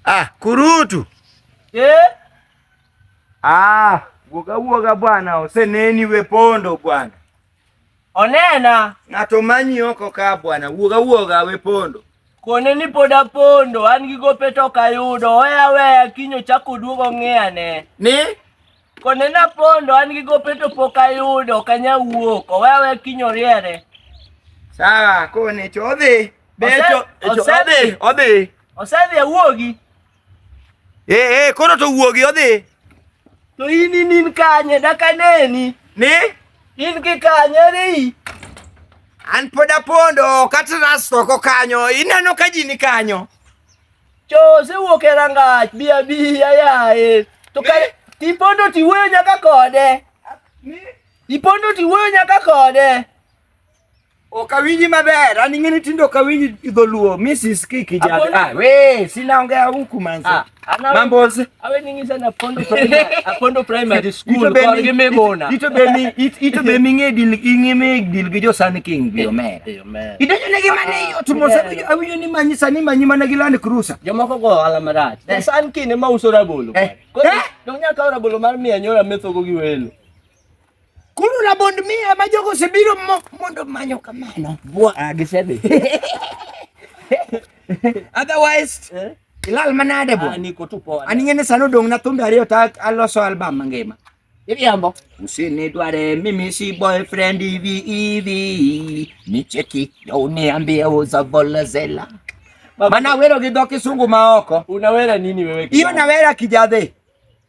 Ah, kurutu eh? Ah, woga woga bwana, oseneni we pondo bwana, onena ng'ato manyi oko ka bwana, woga woga we pondo kone ni pod apondo an gi gope to ok ayudo oya weya kiny ochako oduogo ng'iyane ni Kone na pondo an gi gope to pok ayudo ok anya wuok owe awe kiny oriere. Sawa kone cho odhi. Be Ose- cho cho- ose- odhi odhi. Osedhi awuogi Eh eh koro to wuogi odhi. to in in in kanye dak aneni Ni in ki kanye ri an pod apondo kata ras oko kanyo ineno ka ji ni kanyo. Chose wuok e rangach bi abiya yaye. To ka tipondo tiwuoyo nyaka kode. Ipondo tiwuoyo nyaka kode. Ok awinji maber, an ing'e ni tindo ok awinji dholuo. Mrs. Kiki Apondo- jada. Ah, we, sina ongea huku manze. Ah, ana- Mambos. awe ningi sana pondo primary apondo primary school ko ge me bona ito be mi ito be mi nge dil inge me dil ge jo san king bi omera eh, eh, ito ne ge mane yo tumo sa eh, awi ni manyi sani manyi mana gi land cruiser jo moko go ala marat san king ma uso rabolo ko dong nya ka rabolo mar mi anyora metho go gi welo Koro rabond miya ma jogo osebiro mondo manyo kamano. Bwa ah, gisedhi. Otherwise, eh? ilal manade bo. Ah, niko tu poa. Ani ngene sano dong na thumbe ariyo ta aloso album mangima. Iriambo. Usini dware mimi si boyfriend hivi hivi. Nicheki na uniambie uza vola zela. Mana wero gi dho kisungu ma oko. Unawera nini wewe? Hiyo nawera kijadhe.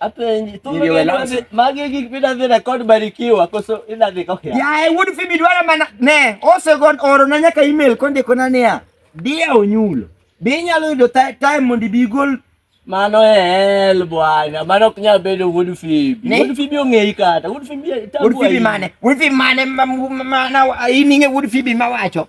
Apenji, tu Niliwe mimi lansi. ndio- magi gik pina dhi record barikiwa koso ina dhi ka hia. Yaye wuod Phoebe dwaro mana ne osegon oro na nyaka email kondiko na niya dia onyulo. Be inyalo yudo ti- time mondo ibi igol Mano e hell bwana, mano ok nyal bedo wuod Fibi. Ne? Wuod Fibi ong'eyi kata, wuod Fibi itabu wuod Phoebe ahinya. mane? Wuod Phoebe mane ma- ma- ma- na- ining'e wuod Phoebe mawacho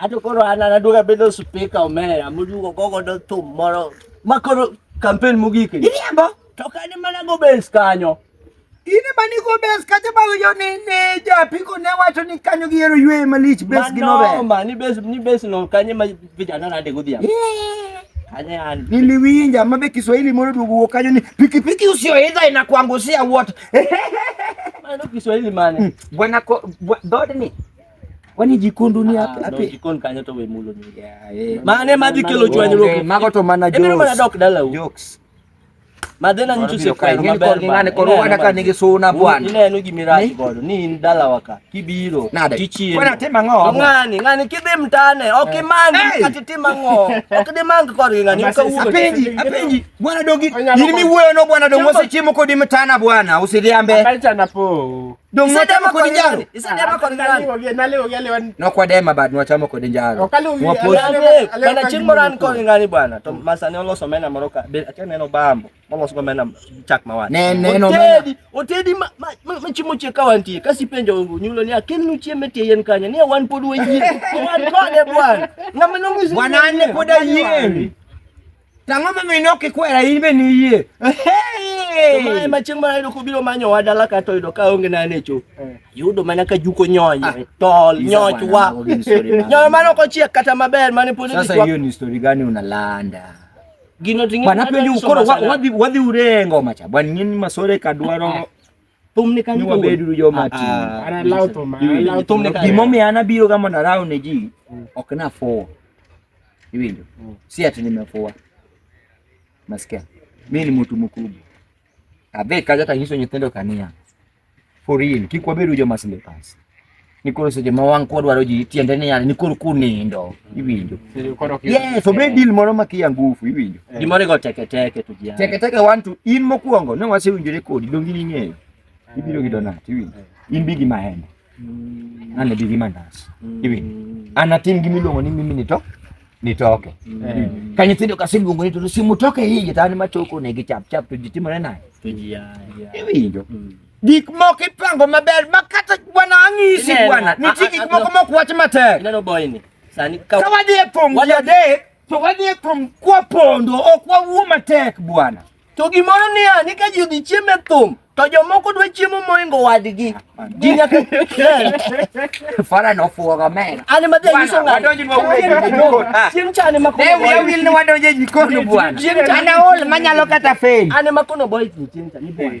Ato koro an an aduoga bedo spika omera moduogo gogo do thum moro ma koro kampen mogik ni. Iriambo. To kani mana go bes kanyo. In ema ni go bes kacha ba yo ni ni ja piko ne wacho ni kanyo gi yero ywe malich bes gi no be. Mano ma ni bes ni bes no kanye ma vijana na de godhiambo. Kanye an. Niliwinja mabe Kiswahili moro duogo kanyo ni pikipiki usioidha inakuangusia wote. Mano Kiswahili mane? Hmm. Bwana dodni Kwani jikon dunia ah, ape. Jikon kanyo to we mulo ni. Eh. Mane madhi kelo chwanyruok. Mago to mana jokes. Ebiro mana dok dala u. Jokes. Madhena nyicho se kwa ng'ani kor ng'ani kor wana ka nigi suna bwana. Ine eno gimiraji godo ni in dala waka kibiro tichie. Bwana tema ng'o? Ng'ani ng'ani kidhi mtane ok eh. imangi kati tima ng'o. Ok di mangi kor ng'ani ka ugo. Apenji apenji bwana dogi. Yini mi wuoyo no bwana dongo se chiemo kodi mtana bwana usidhiambe. Apenja na po. Dongwachamo kod njaro. Isedema kod njaro. Nale ogia lewan. No kwa dema bad nwachamo kod njaro. Mwapo. Kana chieng' moro an kod ngani bwana. To masa ne oloso mena moro ka. Be akia neno bambo. Moloso mena chak mawani. Ne ne no. Otedi, otedi ma ma chimo che kawanti. Kasi penjo nyulo ni akin nu chieme tie yen kanya. Ni wan pod wayie. Wan kode bwana. Ngama nongizi. Bwana ne pod ayie. To ang'o momiyo ne ok ikwera in be niyie? Mae ma chieng' mara yudo kobiro manyo wa dala ka to yudo ka onge na ne cho. Eh. Yudo mana ka juko nyonyo, ah. tol, nyoch wa. Nyoyo mano ok ochiek kata maber mane pod Sasa hiyo ni story gani unalanda? Gino ting'e. Bana penjo koro wadhi wadhi urengo macha. Bwana nyinyi masore kadwaro thumne kanyo ka bedo jo mati ana law to ma law thumne kanyo gimo mi ana biro ga mondo araw ne ji mm. ok na fo iwinjo mm. si ati nimefoa nasikia mimi ni mtu mkubwa abe kaja tanyiso nyitendo kania for real kikwa bedo jo masle pass ni koro seche ma wang' kwadwaro ji tiende ni yani ni koro kunindo iwinjo yes obed deal moro ma kia ngufu iwinjo yeah. gimoro igo teke teke to jiya teke teke one to in mokwongo ne wasewinjore kodi dongi ni ng'eyo ibiro gi donat iwinjo yeah. in bigi mahema mm. an bigi mandas mm. iwinjo an atim gima iluongo ni mimi nito nitoke mm. yeah. ka nyithindo kaseluongo ni to simu toke hiji to an machoko negi chap chap to ji timore naye to jiya iwinjo mm. Gik moko ipango maber ma kata bwana ang'isi bwana. Nitie gik moko mok wach matek. Ineno boy ni. Sani ka wadhi e thum ji adek to wadhi e thum kwa pondo ok wawuo matek bwana. To gimoro niya ni ka ji odhi chiemo e thum to jomoko dwa chiemo moingo wadgi ji nyaka fara no fuoga men ani ma dhi nyiso ng'a donji mo ah. chieng chani ma ko ne wil ni wadonje jikon bwana ana ol manyalo kata fail ani ma kono boy chieng chani bwana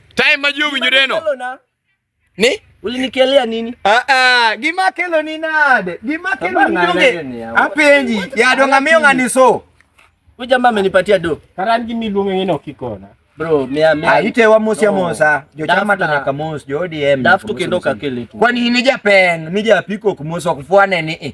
Time ma ji owinjoreno. Ni? Ulinikelea nini? Ah ah, gima kelo ni nade? Gima kelo ni ndoge. Apenji, ya donga miyo ngani so. Huyu jamaa amenipatia do. Karan gimi luonge ngene okikona. Bro, mia mia. Aite ah, wa mosi ya mosa. Jo chama tanya kamos, jo DM. Dafu kendo kakele tu. Kwani ni japen, ni japiko kumosa kufuane ni. Eh.